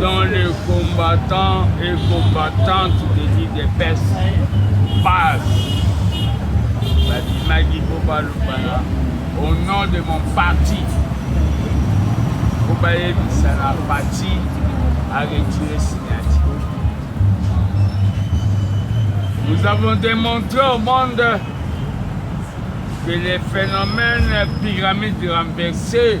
dans les combattants et combattantes de l'IDPS passe babimaki mpo balobana au nom de mon parti mpo bayebisa na parti aretire signature nous avons démontré au monde que les phénomènes pyramides renversées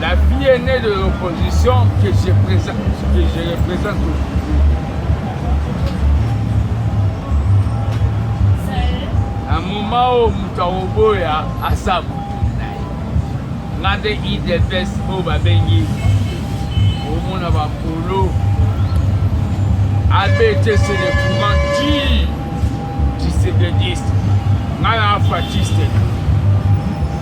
La fille aînée de l'opposition que je présente, que je représente aujourd'hui. Na moment oyo moto akoboya asa motu na ye nga nde idps oyo babengi omona bapolo abete se le courant ti tisebediste nga na fatiste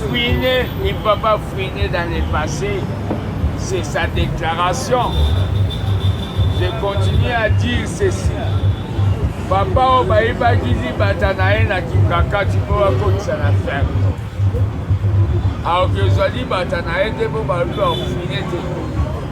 Fouiner, il ne va pas fouiner dans le passé. C'est sa déclaration. Je continue à dire ceci. Papa oyo bayebaki libata na ye na kingakati mpo bakotisa na ferme aoki ezwa libata na ye te mpo balobi bafouine te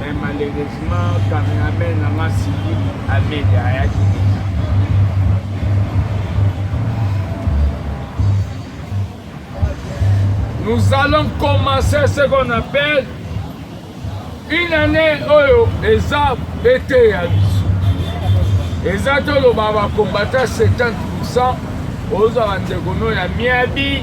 mais malheureusement cameraman na nga siki amede ayaki te nous allons commencer ce qu'on appelle une année oyo eza ete ya biso eza toloba bakombata 70 pourcent ozwa bandeko no ya miabi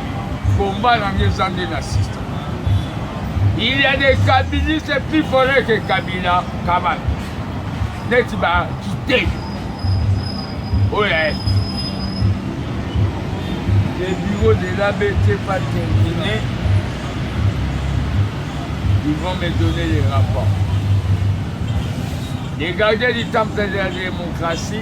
Combat na nga eza nde na système. Il y a des kabilistes plus forts que Kabila Kamal. Neti ba kite. Oyo ya Le bureau de l'ABT pas terminé. Ils vont me donner les rapports. Les gardiens du temple de la démocratie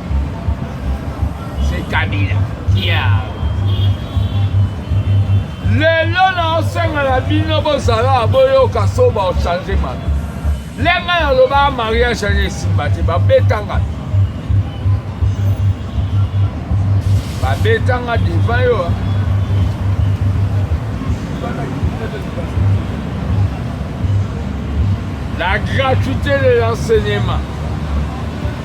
c'est kabila kia lelo naosenga na bino bozala boyoka soba ochange mabe lenga naloba mariage ane esimba te babetanga babetanga devant yo la gratuité de l'enseignement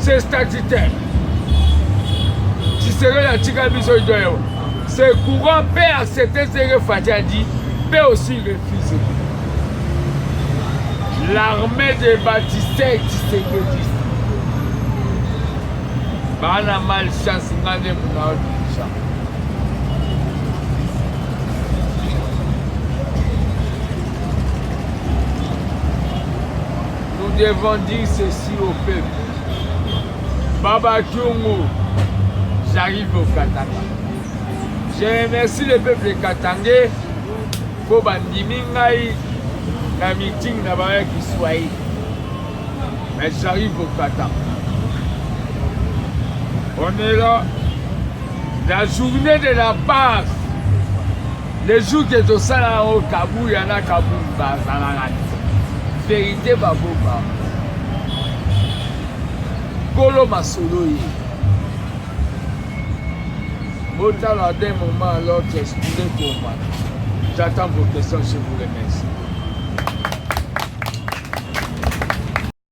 se statutaire tshisekedi atika biso idoyo se courant mpe accepte seke fati adi mpe aussi refuse l'armée de batiste tshisekedi baana mal chance nga nde munaodisa Nous devons dire ceci au peuple. Baba Tungu, j'arrive au Katanga. Je remercie le peuple katangais mpo bandimi ngai na meeting na bango ya kiswahili mais j'arrive au kata on est là la journée de la base Le jour que tosala yango Kabuya na Kabund bazalaka verite babomba kolo masolo ye botala d'un moment à l'autre espire komba j'attends vos questions je vous remercie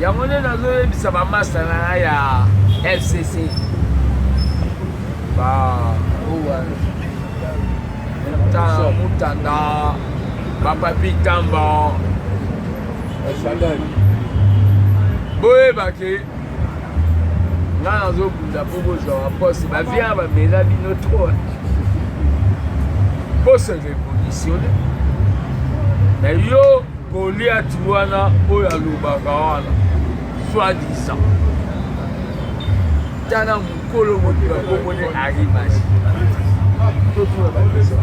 Yango nde nazoyebisa bamasta na ngai ya fcc ba mutanda mutanda bapapi tamba boyebaki nga nazobunda mpo bozwa baposte bavia bamela bino trop poste revolutionne na yo Goliath wana oyo alobaka wana soit disant tala mokolo moto bakomone arimasi totuna bakesa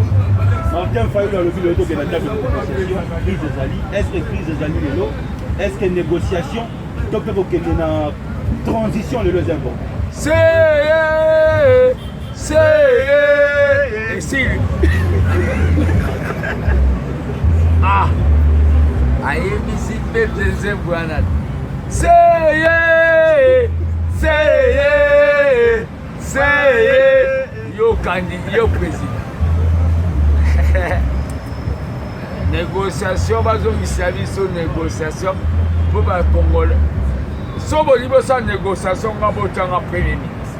martin fayulu alobi lelo tokenda table de négociation crise ezali est ce que crise ezali lelo est ce que négociation to mpe kokende na transition lelo eza important seye esili ah ayebisi mpe te nzembo wana seye seye seye yokandi yo président négociation bazongisa biso négociation mpo bakongole so bolingi bosala négociation nga botanga premier ministre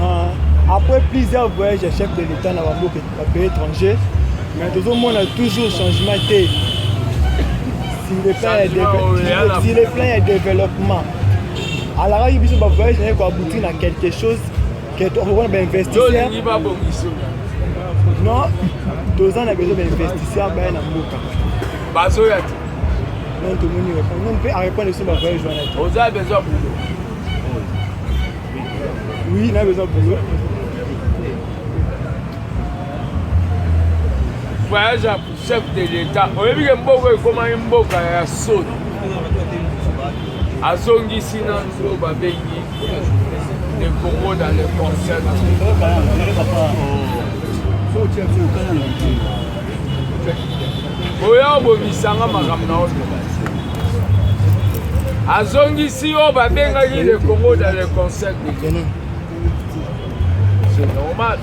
Ah, après plusieurs voyages ya chef de l'État na bamboka ba pays étrangers, mais tozomona toujours changement te sur le plan ya Changement oyo deve- ya na- sur le plan ya développement. Alakaki biso ba voyage na ye koaboutir na quelque chose que tokokona ba investisseurs tolingi babongisa non toza na besoin ba investisseurs baya na mboka bazoya te donc tomoni réponse mpe arépondre biso ba voyage wana te oza besoin bulo Oui, nayo eza boulot. Voyage ya chef de l'État. Oyebi ke mboka ekomaki mboka ya soni. Azongisi na nzo babengi le Congo dans le concert. Oh. Oya obomisa nga makambo na oyo azongisi yo babengaki le congo dans le conseil c'est normal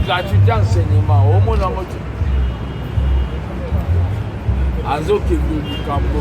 gratuité enseignement omona yango te azokende likambo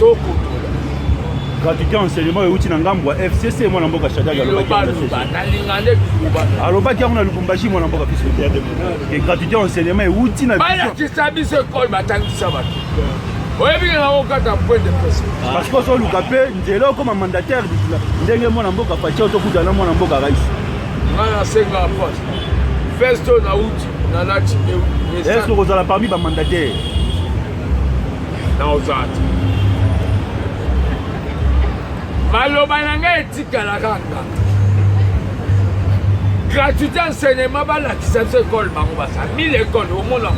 tokotola gratuité ya enseignement euti na ngambo ya fcc mwana mboka shadari alobaki yango na lubumbashi mwana mboka fils de terre de gratuité ya enseignement euti na balakisa biso ekole batangisa bato oyebi nga okata point de presse ah. parce que ozoluka mpe nzela okoma mandataire bisila ndenge mwana mboka faci ozokuta na mwana mboka rais nga nasengaka poste festo na uti na lati esokozala parmi bamandataire naozati maloba na ngai etikala kaka gratuité enseignement balakisa biso ekole bango basa mille ekole omona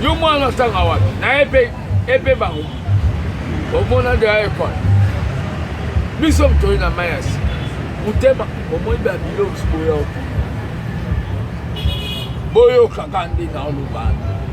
yo mwana atanga wapi naye mpe epe bango omona deya ekole biso motoi na mai ya sika motema omoni babiloko boya boyokaka nde na olobana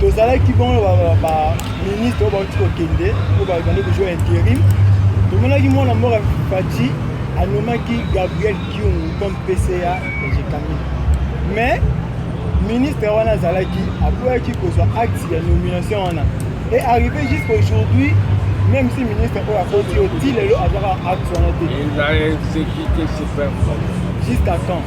tozalaki bongo baministre oyo bauti kokende oyo babandi kozwa interim tomonaki mwana mboka faci anomaki gabriel kiungu comme pca ya jekami mais ministre wana azalaki apoyaki kozwa acte ya nomination wana et arrivé jusqu'à aujourd'hui même si ministre oyo akoti yo ti lelo azwaka acte wana te jusqu'à quand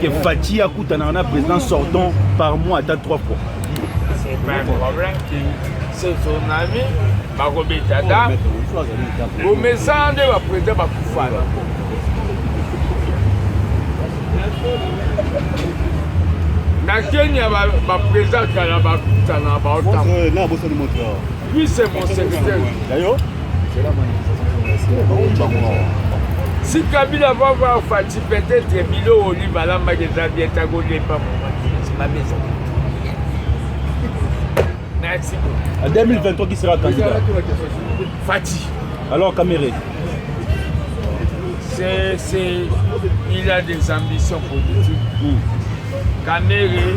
que Fatshi akutanaka na président sortant par mois ata trois fois tsunami bakobeta ata bomesana nde baprésident bakufana na kenya baprésident kala bakutana baotapuise mon secteur si kabila va voir fati peut-être bilo oli balambaki eza bien ntango olemba momaimabezo merci en 2023 qui sera candidat fati alors camere c'est c'est il a des ambitions politiques mm. camere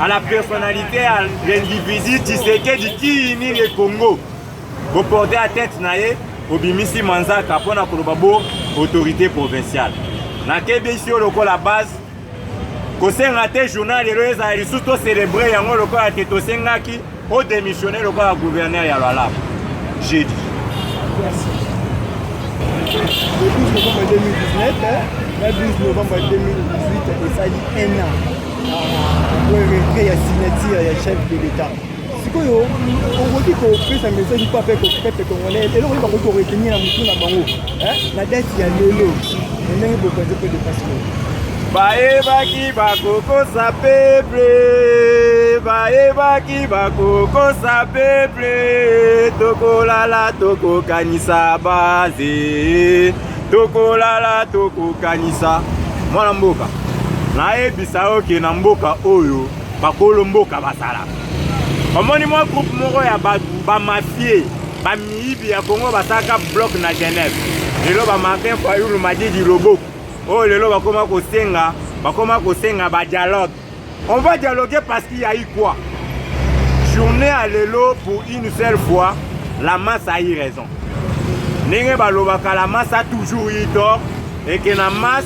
à la personnalité ya l'individu Tshisekedi kii nini e Congo boporte ya tete na ye obimisi manzaka mpo na koloba bo autorité provinciale nakebisi yo lokola base kosenga te journal lelo ezala lisusu tocelebre yango lokola te tosengaki O demissionner lokola gouverneur ya Lualaba jeudi. Le 12 novembre 2019, le 12 novembre 2018, esali un an après retrait ya signature ya chef de l'État. sikoyo okoki kopesa message mpo ape kopete congolais eloko nini bakoki koretenir na motu na bango na date ya lelo ndenge bokonzi mpe depasiko bayebaki bakokosa peple bayebaki bakokosa peple tokolala tokokanisa baze tokolala tokokanisa mwana mboka nayebisa yo ke na mboka oyo bakolo mboka bazalaka omoni mwa groupe moko ya bato bamafie miyibi ya Congo basalaka bloc na Genève lelo ba Martin Fayulu Madidi Loboko oyo oh, lelo bakoma kosenga bakoma kosenga ba dialogue on va dialoguer parce qu'il y a eu quoi journée ya lelo pour une seule fois la masse a eu raison ndenge balobaka la masse a toujours eu tort et que na masse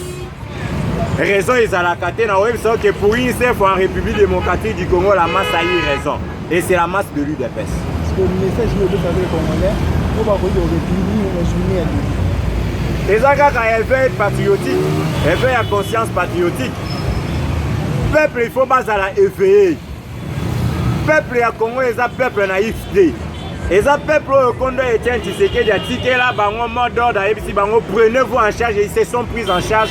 raison ezalaka te na oyebisa oke pour une seule fois en république démocratique du congo la masse a eu raison Et c'est la masse de l'UDPS. Parce que le message que vous avez congolais, vous va vous dire réduire une journée à l'UDPS. eza kaka éveil patriotique éveil ya conscience patriotique peuple il faut bazala éveillé peuple ya congo eza peuple naïf te eza peuple oyo kondo etienne tshisekedi atikela bango mot d'ordre ayebisi bango prenez vous en charge ils se sont pris en charge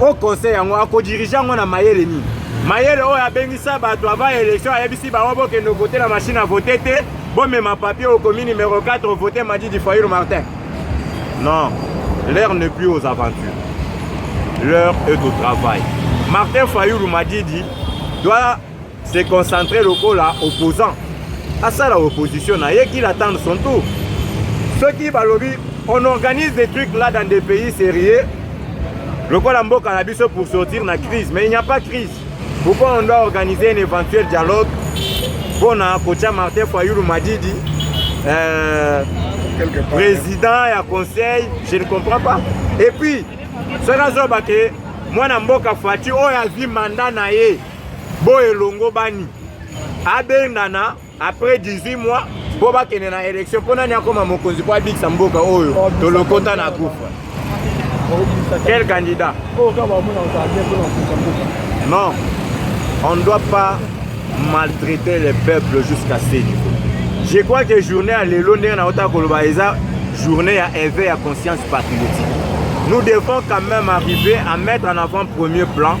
o conseil yango akodirige yango na mayele nini mayele oyo abengisa bato avant élection ayebisi bango bokende vote na machine à vote te bomema papier okomi numéro 4 vote madidi fayulu martin non l'heure ne plus aux aventures l'heure est au travail martin fayulu madidi doit se concentrer lokola opposant asala opposition na ye qu'il attende son tour soki balobi on organise des trucs là dans des pays sérieux lokola mboka na biso pour sortir na crise mais il n'y a pas crise pourquoi on doit organiser un éventuel dialogue mpona kotia martin fayulu madidi euh, président ya conseil je ne comprends pas et puis soki azoba ke mwana mboka fati oyo azwi manda na ye bo elongo bani abengana après 18 mois mpo bakende na élection mpo nani akoma mokonzi mpo abikisa mboka oyo oh, tolokota na kufa quel candidat oh, non on ne doit pas maltraiter les peuples jusqu'à ce niveau je crois que journée ya lelo ndenge naotaka koloba eza journée ya éveil ya conscience patriotique nous devons quand même arriver à mettre en avant premier plan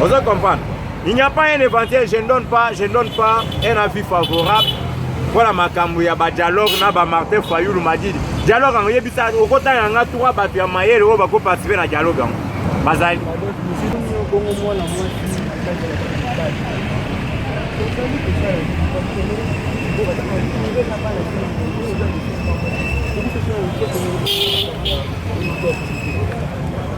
ozo comprendre il n'y a pas un éventail je ne donne pas je ne donne pas un avis favorable mpona makambo ya badialogue na bamartin fayulu madidi dialogue yango yebisa okotanga yanga tura bato ya mayele oyo bakoparticipe na dialogue yango bazali Thank you.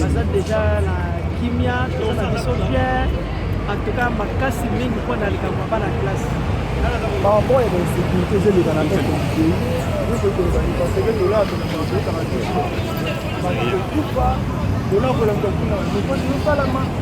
baza deja na kimia toza na biso bien antuka makasi mingi mpo na likambo ya bana classe makambo ya bainsécurité ezoleka na tete ekokozali parce que dollar tonakoyokaka te bato kokufa dollar kolanda kuna mokoti yosalama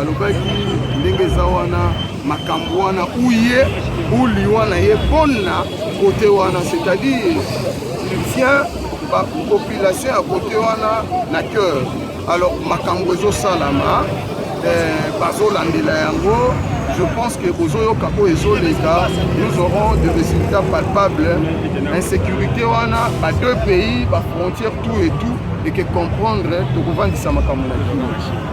alobaki ndenge eza wana makambo wana uye uli wana ye mpona kote wana c'est-à-dire il vient bapopulation ya kote wana na cœur alors makambo ezosalama eh, bazolandela yango je pense que bozoyoka oyo ezoleka nous aurons de résultats palpables insécurité wana ba deux pays ba frontière tout et tout eke comprendre tokovandisa makambo na kino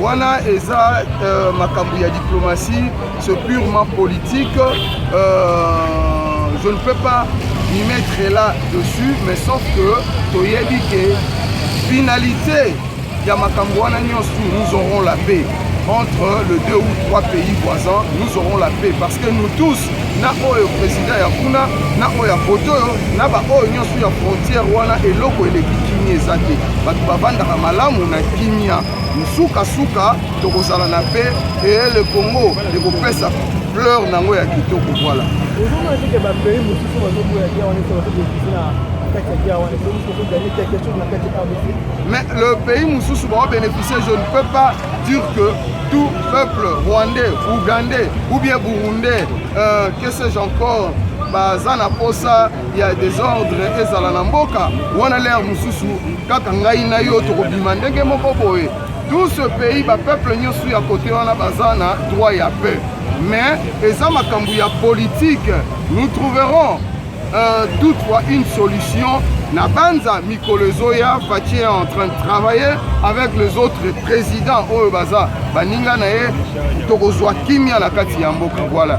wana eza euh, makambo ya diplomatie c'est purement politique euh, je ne peux pas m'y mettre là dessus mais sauf que toyebi ke finalité ya makambo wana nyonso nous aurons la paix entre le deux ou trois pays voisins nous aurons la paix parce que nous tous na oyo président ya kuna na oyo ya poto oyo na baoyo nyonso ya frontière wana eloko eleki kimia eza te bato bavandaka malamu na kimia Nsukansuka tokozala na pe ee le Congo ekopesa fleur na yango ya kitoko. Voilà. ozomona teke bapays mosusu bazoboya gia wana ete bazobekisi na kati ya gia wana soki soki gagner quelque chose na kati ya rdc mais le pays mosusu baobénéficie je ne peux pas dire que tout peuple rwandais ougandais ou bien burundais euh, que sais-je encore baza na posa ya desordre ezala na mboka wana lere mosusu kaka ngai na yo tokobima ndenge moko boye tout ce pays bapeuple nyonso ya kote wana baza na droit ya peu mais eza makambo ya politike nous trouverons euh, toutefois une solution na banza mikolo ezoya faci est en train de travailler avec les autres présidents oyo baza baninga na ye tokozwa kimia na kati ya mboka voilà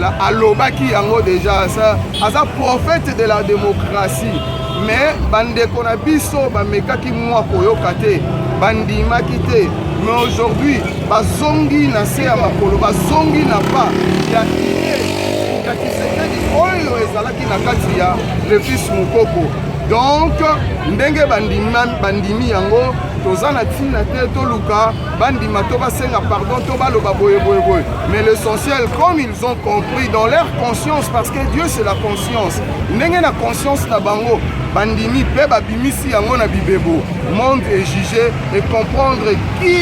La, alobaki yango deja aza, aza prophète de la démocratie mais bandeko na biso bamekaki mwa koyoka te bandimaki te mais aujourd'hui bazongi na se ya makolo bazongi na pa ya ya kisekedi oyo ezalaki na kati ya lefis mokoko donc ndenge bandimi, bandimi yango toza na ntina te toluka bandima to basenga pardon to baloba boye boye boye mais l'essentiel comme ils ont compris dans leur conscience parce que dieu c'est la conscience ndenge na conscience na bango bandimi mpe babimisi yango na bibebo monde est jugé et comprendre qui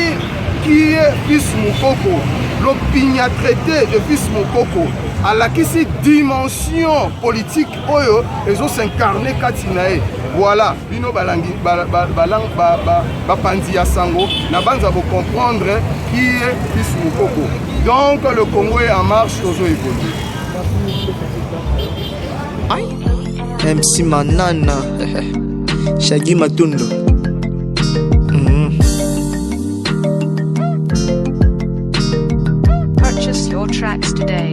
qui est fils mokoko lopinya traité de fils mokoko alakisi dimension politique oyo ezo s'incarne kati na ye voilà bino balangi bapanzi ya sango na banza bocomprendre qui est fils mokoko donc le congo est en marche tozo évolue mc manana shagi matundo mm. Purchase your tracks today.